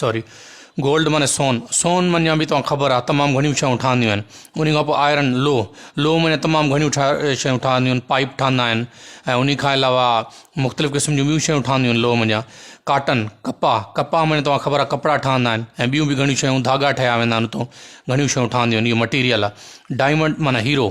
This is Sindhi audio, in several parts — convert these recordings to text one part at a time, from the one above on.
سوري گولڊ معنی سون سون معنی به تمام خبر آ تمام گھڻيون شيون ٺھنديون آھن انھي کان پو آئرن لوھ لوھ معنی تمام گھڻيون ٺا شيون ٺھنديون آھن پائپ ٺھندا آھن ۽ انھي کان علاوه مختلف قسم جون ٻيون شيون ٺھنديون آھن لوھ مڃان ڪاٽن ڪپاھ ڪپاھ معنی تمام خبر آ ڪپڙا ٺھندا آھن ۽ ٻيون به گھڻيون شيون ڌاڳا ٺھيا ويندا آھن اتو گھڻيون شيون ٺھنديون آھن اھو مٽيريل آ ڊائمنڊ معنی ھيرو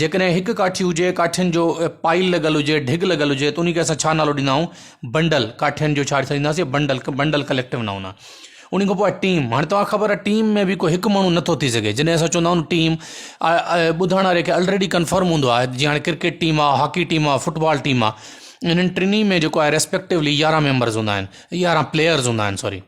جيڪڏهن هڪ ڪاٺي هجي، ڪاٺين جو پائيل لڳل هجي، ڍڳ لڳل هجي ته انهي کي اسان ڇا نالو ڏيندا آهيون، بنڊل، ڪاٺين جو ڇا ڏيناسين بنڊل، بنڊل ڪليڪٽو نائون آهي. انهي کان پوء آهي ٽيم، هاڻي توهان کي خبر آهي ٽيم ۾ به ڪو هڪ ماڻهو نه ٿو ٿي سگهي، جڏهن اسان چوندا آهيون ٽيم ٻڌائڻ واري کي الريڊي ڪنفرم هوندو آهي جيئن هاڻي ڪرڪيٽ ٽيم آهي، هاڪي ٽيم آهي، فٽ بال ٽيم آهي، انهن ٽنهي ۾ جيڪو آهي ريسپيڪٽوولي يارهن ميمبرز هوندا آهن، يارهن پليئرز هوندا آهن سوري.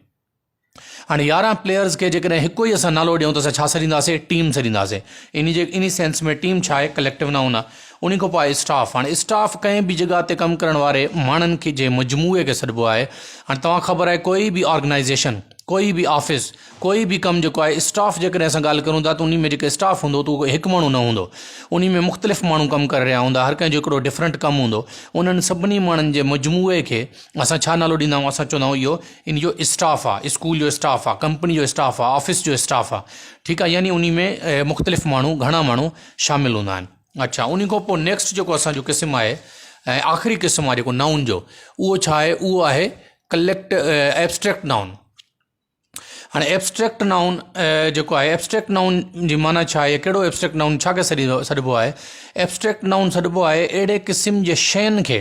هاڻي يارهن پليئرز کي جيڪڏهن هڪو ئي اسان نالو ڏيون ته اسان ڇا سڏينداسين ٽيم سڏينداسين انهي جي انهي سينس ۾ ٽيم ڇا آهي ڪليڪٽو نائون آهي انهي کان پوء آهي اسٽاف هاڻي اسٽاف ڪنهن به جڳهه تي ڪم ڪرڻ واري ماڻهن کي جي مجموعي کي سڏبو آهي هاڻي توهان خبر آهي ڪوئي به آرگنائيزيشن ڪوئي به آفيس ڪوئي به ڪم جيڪو آهي اسٽاف جيڪڏهن اسان ڳالهه ڪرون ٿا ته انهي ۾ جيڪو اسٽاف هوندو ته هڪ ماڻهو نه هوندو انهي ۾ مختلف ماڻهو ڪم ڪري رهيا هوندا هر ڪنهن جو هڪڙو ڊفرنٽ ڪم هوندو انهن سڀني ماڻهن جي مجموعي کي اسان ڇا نالو ڏيندا آهيون اسان چوندا آهيون اهو ان جو اسٽاف آ اسڪول جو اسٽاف آ ڪمپني جو اسٽاف آ آفيس جو اسٽاف آ ٺيڪ آ يعني انهي ۾ مختلف ماڻهو گهڻا ماڻهو شامل هوندا آهن اڇا انهي کان پوء نيڪسٽ جيڪو اسان جو قسم آهي ۽ آخري قسم آ جيڪو نائون جو اهو ڇا آهي اهو آهي ڪليڪٽ ائبسٽريڪٽ نائون هاڻي ائبسٽريڪٽ نائون جيڪو آهي ائبسٽريڪٽ نائون جي معنيٰ ڇا آهي ڪهڙو ائبسٽريڪٽ نائون ڇا کي سڏي سڏبو آهي ائبسٽريڪٽ نائون سڏبو آهي اهڙي قسم جي شين کي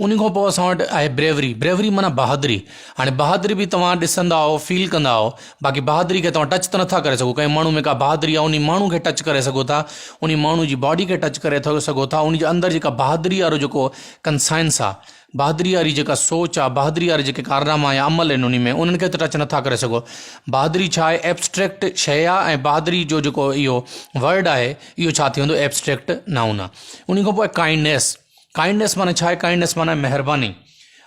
انهي کان پوء اسان وٽ آهي بريوري بريوري معنيٰ بهادري هاڻي بهادري به توهان ڏسندا آهو فيل ڪندا آهو باقي بهادري کي توهان ٽچ ته نٿا ڪري سگهو ڪنهن ماڻهو ۾ ڪا بهادري آهي انهي ماڻهو کي ٽچ ڪري سگهو ٿا انهي ماڻهو جي باڊي کي ٽچ ڪري ٿو سگهو ٿا انهي جي اندر جيڪا بهادري وارو جيڪو ڪنسائنس آهي بهادري واري جيڪا سوچ آهي بهادري وارا جيڪي ڪارناما يا عمل آهن انهي ۾ انهن کي ته ٽچ نٿا ڪري سگهو بهادري ڇا آهي ابسٽريڪٽ شيء آهي ۽ بهادري جو جيڪو اهو ورڊ آهي اهو ڇا ٿي ويندو ابسٽريڪٽ نائون آهي انهي کان پوء ڪائنڊنيس ڪائنڊنس معنيٰ ڇا آهي؟ ڪائنڊنس معنيٰ مهرباني.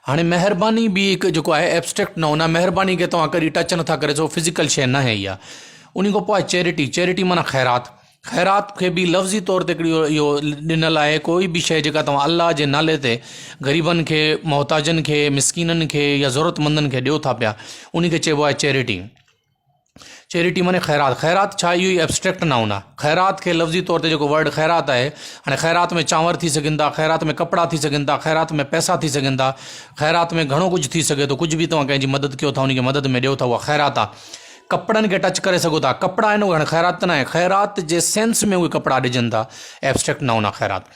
هاڻي مهرباني به هڪ جيڪو آهي ابسٽريڪٽ نون آهي، مهرباني کي توهان ڪڏهن ٽچ نٿا ڪري سگهو، فزيڪل شيء ناهي اها. ان کان پوء آهي چيرٽي، چيرٽي معنيٰ خيرات. خيرات کي به لفظي طور تي هڪڙي اهو ڏنل آهي ڪوئي به شيء جيڪا توهان الله جي نالي تي غريبن کي، محتاجن کي، مسڪينن کي يا ضرورتمندن کي ڏيو ٿا پيا، ان کي چئبو آهي چيرٽي. چيريٽي معني خيرات، خيرات ڇا اهو ئي ابسٽريڪٽ نائون آ. خيرات کي لفظي طور تي جيڪو ورڊ خيرات آهي هاڻي خيرات ۾ چانور ٿي سگهن ٿا، خيرات ۾ ڪپڙا ٿي سگهن ٿا، خيرات ۾ پئسا ٿي سگهن ٿا، خيرات ۾ گهڻو ڪجهه ٿي سگهي ٿو، ڪجهه به توهان ڪنهن جي مدد ڪيو ٿا ان کي مدد ۾ ڏيو ٿا اها خيرات آ. ڪپڙن کي ٽچ ڪري سگهو ٿا، ڪپڙا آهن اهي هاڻي خيرات ته ناهي، خيرات جي سينس ۾ اهي ڪپڙا ڏجن ٿا ابسٽريڪٽ نائون آ خيرات.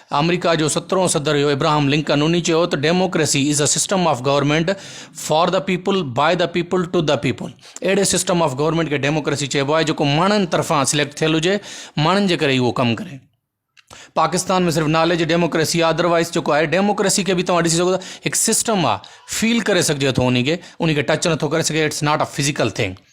آمريڪا جو سترهون صدر هيو ابراهم لنڪن انهي چيو ته democracy is a system of government for the people by the people to the people اهڙي سسٽم آف گورنمينٽ کي ڊيموڪريسي چئبو آهي جيڪو ماڻهن طرفان سليڪٽ ٿيل هجي ماڻهن جي ڪري ئي اهو ڪم ڪري پاڪستان ۾ صرف نالي جي ڊيموڪريسي آهي ادروائز جيڪو آهي ڊيموڪريسي کي به توهان ڏسي سگهو ٿا هڪ سسٽم آهي فيل ڪري سگهجي ٿو انهي کي انهي کي ٽچ نٿو ڪري سگهي it's not a physical thing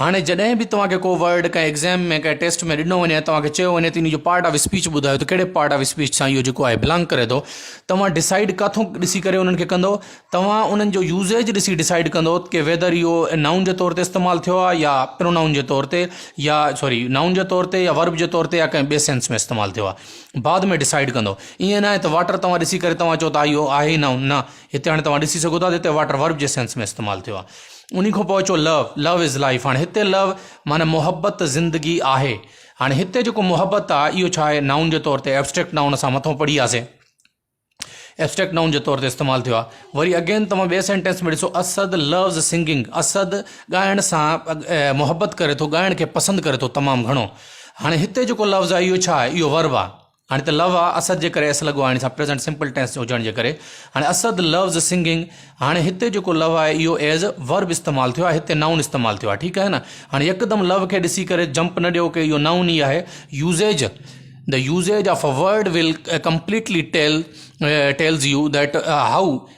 هاڻي جڏهن به توهان کي ڪو ورڊ ڪنهن ايگزام ۾ ڪنهن ٽيسٽ ۾ ڏنو وڃي توهان کي چيو وڃي ته ان جو پارٽ آف اسپيچ ٻڌايو ته ڪهڙي پارٽ آف اسپيچ سان اهو جيڪو آهي بلانگ ڪري ٿو توهان ڊسائڊ ڪاٿو ڏسي ڪري انهن کي ڪندو توهان انهن جو يوزيج ڏسي ڊسائڊ ڪندو ڪي ويدر اهو نائون جي طور تي استعمال ٿيو آهي يا پرونائون جي طور تي يا سوري نائون جي طور تي يا ورب جي طور تي يا ڪنهن ٻي سينس ۾ استعمال ٿيو آهي بعد ۾ ڊسائڊ ڪندو ائين نه آهي ته واٽر توهان ڏسي ڪري توهان چو ته اهو آهي نائون نه هتي هاڻي توهان ڏسي سگهو ٿا ته هتي واٽر ورب جي سينس ۾ استعمال ٿيو آهي انهي کان پوء اچو لو لو از لائف هاڻي هتي لو معنيٰ محبت زندگي آهي هاڻي هتي جيڪو محبت آهي اهو ڇا آهي نائون جي طور تي ابسٽريڪٽ نائون اسان مٿو پڙهي وياسي ابسٽريڪٽ نائون جي طور تي استعمال ٿيو آهي وري اگين توهان ٻئي سينٽينس ۾ ڏسو اسد لوز سنگنگ اسد ڳائڻ سان محبت ڪري ٿو ڳائڻ کي پسند ڪري ٿو تمام گهڻو هاڻي هتي جيڪو لفظ آهي اهو ڇا آهي اهو ورب آهي هاڻي ته لو آ اسد جي ڪري ايس لڳو آڻي سان پريزنٽ سمپل ٽينس جو هجڻ جي ڪري هاڻي اسد لوز سنگنگ هاڻي هتي جيڪو لو آهي اهو ايز ورب استعمال ٿيو آهي هتي نائون استعمال ٿيو آهي ٺيڪ آهي نه هاڻي يڪدم لو کي ڏسي ڪري جمپ نه ڏيو ڪي اهو نائون ئي آهي usage the usage of a word will completely tell tells you that how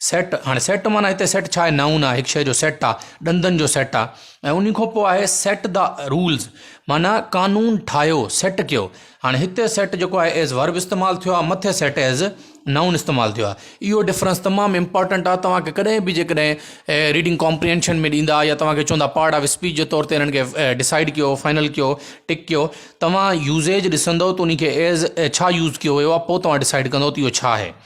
set, هاڻي سيٽ معنيٰ هتي سيٽ ڇا آهي؟ نائون آهي، هڪ شيء جو سيٽ آهي، ڏندن جو سيٽ آهي ۽ انهي کان پوء آهي سيٽ دا رولز معنيٰ قانون ٺاهيو، سيٽ ڪيو. هاڻي هتي سيٽ جيڪو آهي ايز ورب استعمال ٿيو آهي، مٿي سيٽ ايز نائون استعمال ٿيو آهي. اهو ڊفرنس تمام امپارٽنٽ آهي، توهان کي ڪڏهن به جيڪڏهن ريڊنگ ڪامپريهنشن ۾ ڏيندا يا توهان کي چوندا پارٽ آف اسپيچ جي طور تي انهن کي ڊسائيڊ ڪيو، فائنل ڪيو، ٽڪ ڪيو، توهان يوزيج ڏسندو ته انهي کي ايز ڇا يوز ڪيو ويو آهي، پوء توهان ڊسائيڊ ڪندو ته اهو ڇا آهي.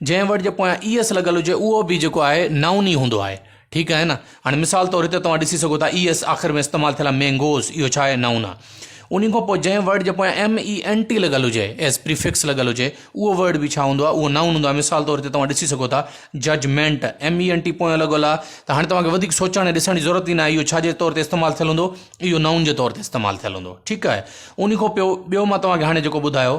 جنهن ورڊ جي پويان اي ايس لڳل هجي اهو به جيڪو آهي نائون ئي هوندو آهي ٺيڪ آهي نه هاڻي مثال طور هتي توهان ڏسي سگهو ٿا اي ايس آخر ۾ استعمال ٿيل آهي مينگوز اهو ڇا آهي نائون آهي ان کان پوء جنهن ورڊ جي پويان ايم اي اين ٽي لڳل هجي ايز پريفڪس لڳل هجي اهو ورڊ به ڇا هوندو آهي اهو نائون هوندو آهي مثال طور هتي توهان ڏسي سگهو ٿا judgement M E N T پويان لڳل آهي ته هاڻي توهان کي وڌيڪ سوچڻ ۽ ڏسڻ جي ضرورت ئي نه آهي اهو ڇا جي طور تي استعمال ٿيل هوندو اهو نائون جي طور تي استعمال ٿيل هوندو ٺيڪ آهي ان کان پيو ٻيو مان توهان کي هاڻي جيڪو ٻڌايو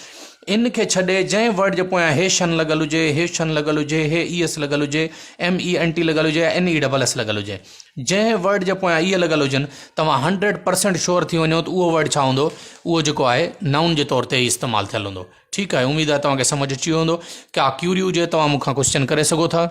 ان کي ڇڏي جنهن ورڊ جي پويان هي شن لڳل هجي، هي شن لڳل هجي، هي اي ايس لڳل هجي، ايم اي اين ٽي لڳل هجي يا اين اي ڊبل ايس لڳل هجي. جنهن ورڊ جي پويان اي لڳل هجن، توهان هنڊريڊ پرسينٽ شور ٿي وڃو ته اهو ورڊ ڇا هوندو؟ اهو جيڪو آهي نائون جي طور تي ئي استعمال ٿيل هوندو. ٺيڪ آهي، اميد آهي توهان کي سمجهه اچي ويو هوندو. ڪا ڪيوري هجي توهان مون کان ڪوسچن ڪري سگهو ٿا.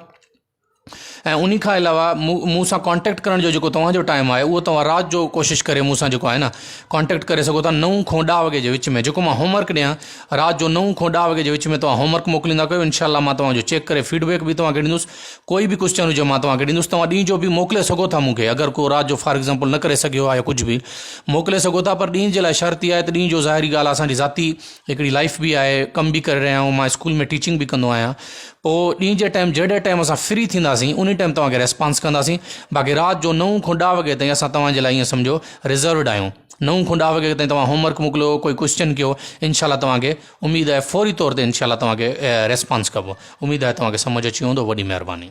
۽ انهي کان علاوه مون سان ڪانٽيڪٽ ڪرڻ جو جيڪو توهان جو ٽائيم آهي اهو توهان رات جو ڪوشش ڪري مون سان جيڪو آهي نه ڪانٽيڪٽ ڪري سگهو ٿا نو کان ڏهه وڳي جي وچ ۾ جيڪو مان هوم ورڪ ڏيان رات جو نو کان ڏهه وڳي جي وچ ۾ توهان هوم ورڪ موڪليندا ڪيو انشاء الله مان توهان جو چيڪ ڪري فيڊ بيڪ به توهان کي ڏيندس ڪوئي به ڪوشچن هجي مان توهان کي ڏيندس توهان ڏينهن جو به موڪلي سگهو ٿا مون کي اگر ڪو رات جو فار ايگزامپل نه ڪري سگهيو آهي يا ڪجهه به موڪلي سگهو ٿا پر ڏينهن جي لاء شرط اها آهي ته ڏينهن جو ظاهري ڳالهه آهي اسان جي ذاتي هڪڙي لائف به آهي ڪم به ڪري رهيا آهيون مان اسڪول ۾ ٽيچنگ به ڪندو آهيان پوء ڏينهن جي ٽائيم جهڙي ٽائيم اسان فري ٿينداسين انهي ٽائيم توهان کي ريسپانس ڪنداسين باقي رات جو نو کان ڏهه وڳي تائين اسان توهان جي لاء ائين سمجهو ريزروڊ آهيون نو کان ڏهه وڳي تائين توهان هوم ورڪ موڪليو ڪوئي ڪوسچن ڪيو انشاء الله توهان کي اميد آهي فوري طور تي انشاء الله توهان کي ريسپانس ڪبو اميد آهي توهان کي سمجهه اچي ويو هوندو وڏي مهرباني.